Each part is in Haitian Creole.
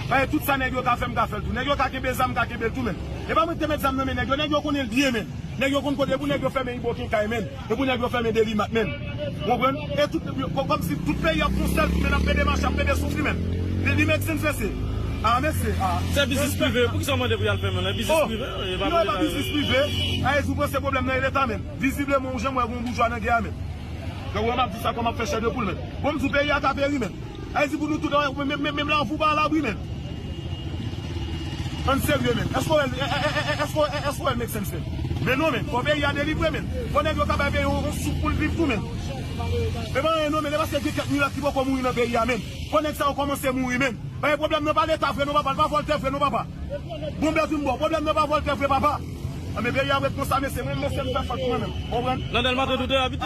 Paske tout sa nèg yo ka fè m ka fè l tou. Nèg yo ka kenbe zam m ka kenbe l tou menn. E pa mwen ki te met zam nan men nèg yo. Nèg yo konnen l byen menn. Nèg yo konn kote e pou nèg yo fèmen Iboken kay menn. E pou nèg yo fèmen Delimat menn. Ou konprann? E tout kòmsi tout peyi ap fon sèl kou menn ap pede mache ap pede souf li menn. Li li make sense mesye? Ah mesye ah. Se biznis prive, poukisa w mande pou y al fèmen l? E biznis prive? Oh! E pa pou leta yo. Non e pa biznis prive. Ah e si w panse pwoblèm nan e leta menn. Vizibleman ou jan m wè gen yon boujwa nan gè a menn. Donk ou wè m ap di sa kòm ap fè chè de poul menn. Bon m di w peyi a ka peri menn. Ayiti pou nou tout an menm menm menm la poupa la bri nèt ann serye menm èske wè èske wè l make sense menm men non menm fò peyi a delivre menm fò nèg yo ka bay peyi a yon soup poul viv tou menm epa anyen non menm epa se gen kèk milat ki poko mouri nan peyi a menm fò nèg sa yo kòmanse mouri menm paske pwoblèm nan pa leta vre non papa l pa vòltè vre non papa bon bèt yon bò pwoblèm nan pa vòltè vre papa anben peyi a ap ret konsa mesye mwen mesye m fè fòt mwen menm konprann nan dèlma 32 a abite.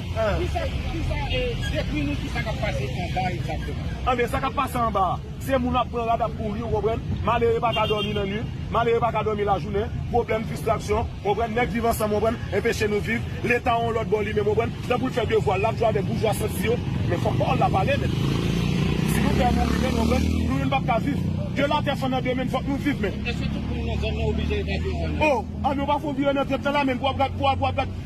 Dekri nou kisa kap pase anba egzakteman. Anben sa kap pase anba a, se moun ap pran rad ap kouri ou konprann, malere pa ka dòmi nan nwit, malere pa ka dòmi lajounen, pwoblèm, fistraksyon, ou konprann, nèg viv ansanm ou konprann, enpeche nou viv, leta yon lòt bò li menm ou konprann, lè pou l fè devwa l, lap jwe avèk boujwa santi yo, men fòk pawòl la pale men, si nou pè mouri menn ou konprann, nou youn pap ka viv, de la tè fann andemen n fòk nou viv men. Eske tout moun nan zòn nan oblije evakye zòn nan? Oh! Anben ou pa fon vire nan trèt lan la menn pou w ap gad, pou w ap gad.